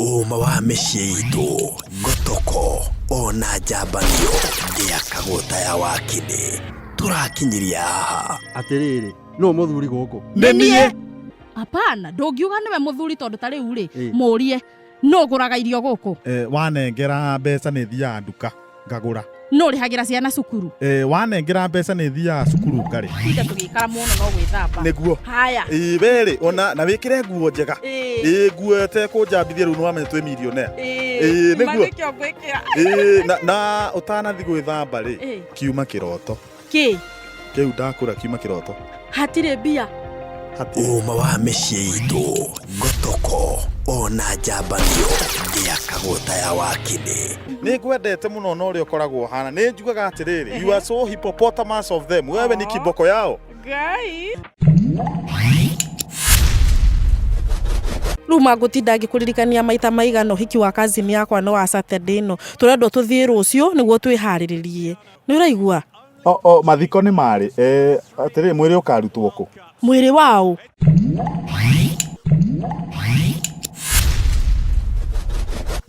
Ũũma wa mĩciĩ itũ nĩ toko ona njambanio ndĩakagwo ta ya wakinĩ tũrakinyiria haha atĩrĩrĩ nũ mũthuri gũkũ nĩ niĩ apana ndũngiuga nĩwe mũthuri tondũ ta rĩu rĩ mũrie nũgũraga irio gũkũ eh, wanengera mbeca nĩ thiaga nduka ngagũra no ũrĩhagĩra ciana cukuru e, wanengera mbeca nĩ thiaga cukuru ngarĩ inde tũgĩikara mũno no gwĩthamba nĩguo haya ĩ werĩ ona na wĩkĩre nguo njega ĩ nguo tekũnjambithia rĩu nĩwamenya twĩ milionea ĩ nĩguo na ũtanathi gwĩthamba rĩ kiuma kĩroto Kĩ? Kĩu ndakũra kiuma kĩroto. Hatirĩ mbia. Ũũma wa mĩciĩ itũ, gotoko, ona njambanio, ndĩakagwo ta ya wakĩnĩ. Nĩ ngwendete mũno na ũrĩa ũkoragwo ũhana. Nĩ njugaga atĩrĩrĩ, you are so hippopotamus of them. Wewe ni kiboko yao. Ngai. rä u mangåtinda ngä kå ririkania maita maigana å hiki wa kazini yakwa nä wa Saturday ä no tå rendwo tå thiä rå cio nä guo twä harä rä rie nä å raigua O, o, mathiko nĩ marĩ eh, atĩrĩ mwĩrĩ ũkarutwo kũ mwä rä waå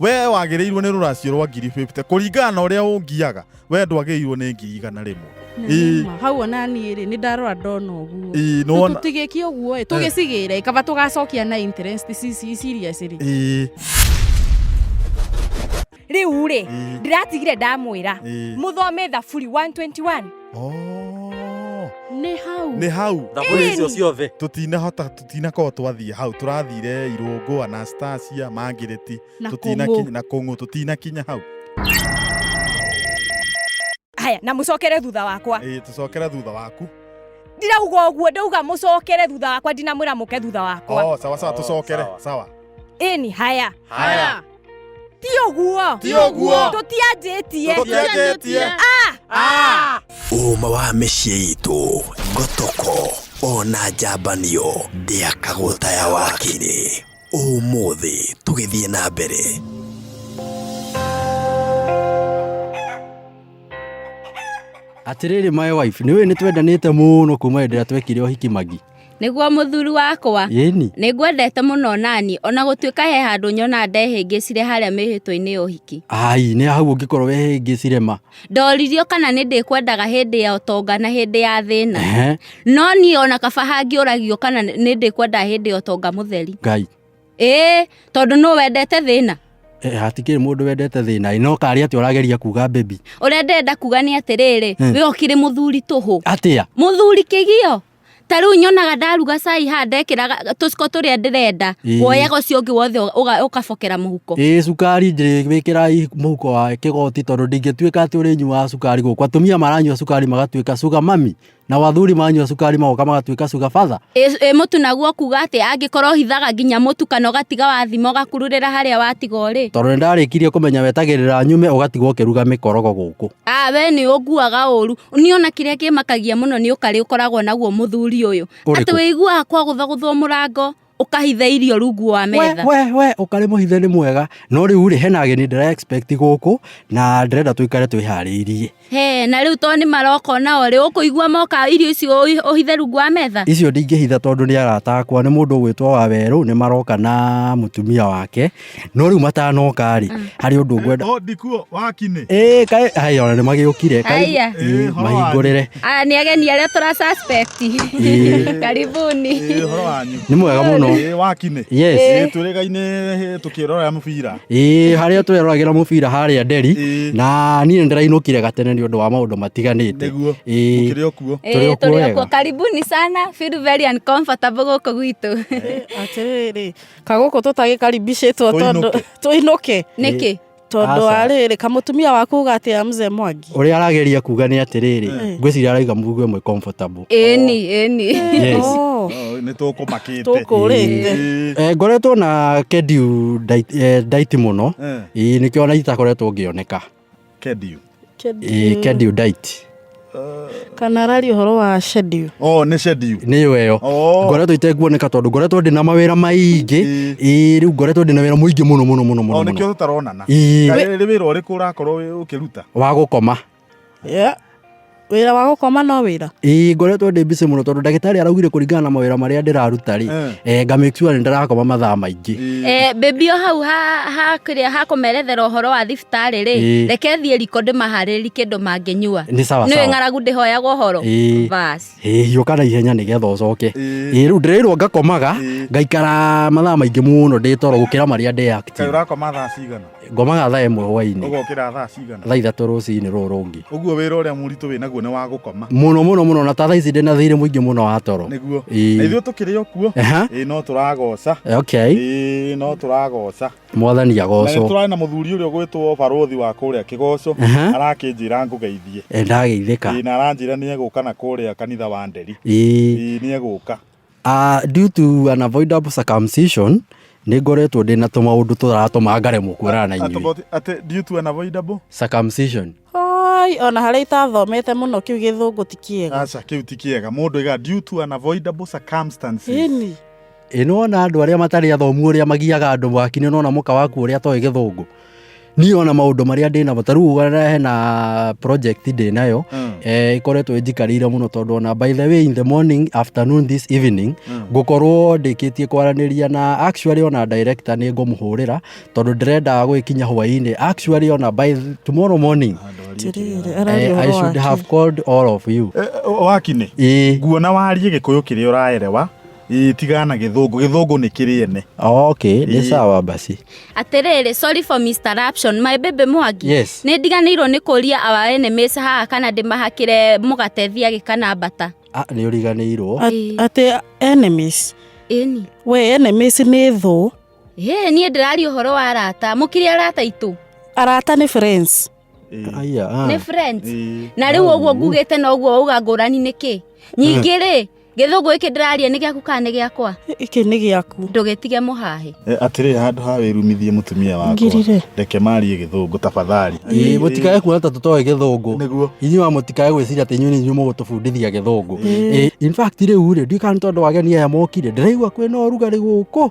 wee wagĩrĩirwo nĩ rũracio rwa ngiri 50 kũringana na ũrĩa ũngiaga wee ndwagĩrĩirwo nĩ ngiri igana rĩmwe Ĩĩ. hau ona niä rä nä ndarora ndona å guo Ĩĩ, nĩ wona- tå tigä kie å guo tå gä cigä re kaba tå gacokia na interest ici ici- ici iria cirä Ĩĩ. riu ri Mm. ndiratigire ndamwira Ĩĩ. muthome thaburi 121 Oh. nä hau nä hau thaburi icio Ĩni. ciothe tutinahota tutinakorwo twathiä hau turathire irungu anastasia mangireti na kũng'ũ. na kå ng'å tutinakinya hau haya na mucokere thutha wakwa ä tå cokere thutha waku ndirauga uguo ndauga mucokere thutha wakwa ndinamwira muke thutha wakwa oh, sawa sawa Oh, tå cokere sawa. sawa ini haya Haya. ti uguo Ti ũguo. tutianjĩtie Tũtianjĩtie. Ah! Ah! ũma wa mĩciĩ itũ ngotoko ona njambanio ndĩakagũtaya wakinĩ ũmũthĩ tũgĩthiĩ na mbere atĩrĩrĩ my wife nĩ wĩ nĩ twendanĩte mũno kuma hĩndĩ ĩrĩa twekire ũhiki magi nĩguo mũthuri wakwa yĩni nĩ ngwendete mũno nani ona gũtuĩka he handũ nyona ndehĩngĩcire harĩa mĩhĩtwa-inĩ ya ũhiki ai nĩ hau ũngĩkorwo wehĩngĩcire ma ndoririo kana nĩ ndĩkwendaga hĩndĩ ya ũtonga na hĩndĩ ya thĩna Ehe. no niĩ ona kaba hangĩũragio kana nĩ ndĩkwendaga hĩndĩ ya ũtonga mũtheri ngai ĩĩ tondũ nũ wendete thĩna Eh, hatikĩrĩ mũndũ wendete thĩna ĩ, no karĩ atĩ ũrageria kuga bebi ũrĩa ndĩrenda kuga nĩ atĩrĩrĩ Hmm. we ũkĩrĩ mũthuri tũhũ atĩa mũthuri kĩgio ta rĩu nyonaga ndaruga cai haha ndekĩra tũciko tũrĩa ndĩrenda Ĩĩ. woyaga ũcio ũngĩ wothe ũga- ũkabokera mũhuko ĩĩ cukari njĩwĩkĩrai mũhuko wa kĩgoti tondũ ndingĩtuĩka atĩ ũrĩnyuaga cukari gũkũ atumia maranyua cukari magatuĩka sugar mami nao athuri maranyua cukari magoka magatuĩka sugar father Ĩ- ĩ mũtu naguo kuga atĩ angĩkorwo hithaga nginya mũtu kana ũgatiga wathima ũgakururĩra harĩa watiga ũrĩ tondũ nĩ ndarĩkirie kũmenya wetagĩrĩra nyume ũgatigwo ũkĩruga mĩkorogo gũkũ Ah we nĩ ũnguaga ũru. Nĩ ona kĩrĩa kĩmakagia mũno nĩ ũkarĩ ũkoragwo naguo mũthuri ũyũ. Ũrĩkũ? Atĩ wĩiguaga kwagũthagũthwo mũrango ũkahitha irio rungu wa metha. We, we, we, ũkarĩ mũhithe nĩ mwega. No rĩu rĩ, hena ageni ndĩra expect gũkũ na ndĩrenda tũikare twĩharĩirie. He, na rĩu to nĩ maroka ona o rĩ, ũkũigua moka irio icio ũhi- ũhithe rungu wa metha. Icio ndingĩhitha tondũ nĩ arata akwa, nĩ mũndũ ũgwĩtwo wa werũ, nĩ maroka na mũtumia wake. no rĩu matanoka rĩ harĩ ũndũ ngwenda Oh, ndikuo wakinĩ ĩĩ kaĩ haya ona nĩ magĩũkire Haya. Ĩĩ, horo wanyu. mahingũrĩre Aya nĩ ageni arĩa tũra suspect. Ĩĩ. Karibuni. Ĩĩ, horo wanyu nĩ mwega mũno Ĩĩ, wakinĩ yes Ĩĩ, twĩrĩgainĩ tũkĩrorera mũbira ĩĩ harĩa twĩroragĩra mũbira harĩa nderi Ĩĩ. na niĩ nĩ ndĩrainũkire gatene nĩ ũndũ wa maũndũ matiganĩte nĩguo Ĩĩ. mũkĩrĩ o kuo Tũrĩ Ĩĩ, o kuo tũrĩ o wega. kuo. Karibuni sana. Feel very uncomfortable gũkũ gwitũ. atĩrĩrĩ kagũkũ tũtagĩkaribicĩtwo tondũ Tũinũke. tũinũke nĩkĩ tondũ Aca. wa rĩrĩ kamutumia waku uga atĩ ya mzee mwangi å rä a arageria kuga nä atä rä rä ngwäciria araiga mugu ä mwe comfortable. ĩni ĩni Yes. Oh, nä tå kå makä Tũkũrĩte. Eh, ngoretwo na kendiu ndait- eh, ndaiti må no ä nä kä ona itakoretwo ngä oneka Kedio. Ĩĩ, Kedio diet. kana arari ũhoro wa shedio Oh, nĩ shedio. nĩyo ĩyo Oh. ngoretwo itekuoneka tondũ ngoretwo ndĩ na mawĩra maingĩ Ĩĩ. ĩĩ rĩu ngoretwo ndĩ na wĩra mũingĩ mũno mũno mũno mũno Oh, mũno nĩkĩo tũtaronana. Ĩĩ. Kaĩ nĩ wĩra ũrĩkũ ũrakorwo wĩ- ũkĩruta? wa gũkoma Yeah. wĩra wa gũkoma no wĩra ĩĩ ngoretwo ndĩ busy mũno tondũ ndagĩtarĩ araugire kũringana na mawĩra marĩa ndĩraruta rĩ Eh. eh, nga make sure nĩ ndĩrakoma mathaa maingĩ Eh, baby o hau ha- ha- kĩrĩa hakũmerethera ũhoro wa thibitarĩ rĩ Ĩĩ. reke thiĩ riko ndĩmaharĩri kĩndũ mangĩnyua Nĩ sawa nĩwĩ sawa. ng'aragu ndĩhoyagwo ũhoro Ĩĩ. basi Ĩĩ, hiũka na ihenya nĩgetha ũcoke Ĩĩ. Ĩĩ, rĩu ndĩrĩirwo ngakomaga Ĩĩ. ngaikara mathaa maingĩ mũno ndĩ toro gũkĩra marĩa ndĩ active. kaĩ ũrakoma thaa cigana ngomaga thaa ĩmwe hwainĩ ũgokĩra thaa cigana thaa ithatũ rũcinĩ rũrũ rũngĩ ũguo wĩra ũrĩa mũritũ wĩ naguo nĩ wa gũkoma mũno mũno mũno na ta thaa ici ndĩ na thirĩ mũingĩ mũno wa toro nĩguo Ĩĩ. na ithuĩ tũkĩrĩ o kuo Aha. ĩĩ no tũragoca okay ĩĩ no tũragoca mwathani na nĩ agocwo tũrarĩ na mũthuri ũrĩa ũgwĩtwo barũthi wa kũrĩa kĩgoco Aha. arakĩnjĩra ngũgeithie Eh, ndageithĩka ĩĩ na aranjĩra nĩ egũka na kũrĩa kanitha wa nderi Ĩĩ. Ĩĩ, nĩ egũka Due to an avoidable circumcision, nĩ ngoretwo ndĩ na tũmaũndũ tũratũma ngaremwo kuonana na inyuĩ. Atoboti- atĩ due to an avoidable Circumcision. Oi, ona harĩa itathomete mũno kĩu gĩthũngũ ti kĩega aca kĩu ti kĩega mũndũ aiga due to an avoidable circumstances ini Ĩ nĩwona andũ arĩa matarĩ athomu ũrĩa magiaga andũ mwaki-inĩ nona mũka waku ũrĩa atoĩ gĩthũngũ. niĩ ona maũndũ marĩa ndĩ namo ta rĩu ũgana hena project ndĩ nayo Mm. eh, ĩkoretwo ĩnjikarĩire mũno tondũ ona by the way in the morning afternoon this evening Mm. ngũkorwo ndĩkĩtie kwaranĩria na actually ona director nĩ ngũmũhũrĩra tondũ ndĩrendaga gwĩkinya hwainĩ actually ona by tomorrow morning Tiriri, eh, araria I ũhoro should wake. have called all of you Eh, eh, wakinĩ ĩĩ nguona warie gĩkũyũ kĩrĩa ũraerewa Ĩĩ, tigana na gĩthũngũ gĩthũngũ nĩ kĩrĩ ene okay nĩ Ĩĩ. sawa basi atĩrĩrĩ sorry for Mr. Raption my baby mwangi Yes. nĩ ndiganĩirwo nĩ kũria our enemies haha kana ndĩmahakĩre mũgate thiagĩ kana mbata ah, nĩ ũriganĩirwo Ĩĩ. atĩ enemies ĩni we enemies nĩ thũ ĩĩ niĩ ndĩraria ũhoro wa arata mũkĩrĩ arata itũ arata nĩ friends Eh, Aya, ah. nĩ friends eh, na rĩu ũguo au. ngugĩte na ũguo wauga ngũrani nĩkĩ nyingĩ rĩ gĩthũngũ gĩkĩ ndĩraria nĩ gĩaku kana nĩ gĩakwa Iki nĩ gĩaku. ndũgĩtige mũhahe eh, atĩrĩ handũ ha wĩrumithie mũtumia wakwa Ngirire. reke marie gĩthũngũ tafadhali Ĩĩ, mũtikae kuona ta tũtoĩ gĩthũngũ nĩguo inyuĩ wa mũtikae gwĩciria atĩ inyuĩ nĩ inyuĩ mũgũtũbundithia gĩthũngũ Ĩĩ, in fact rĩu rĩ ndiũĩ kana nĩ tondũ ageni aya mokire ndĩraigua kwĩna ũrugarĩ gũkũ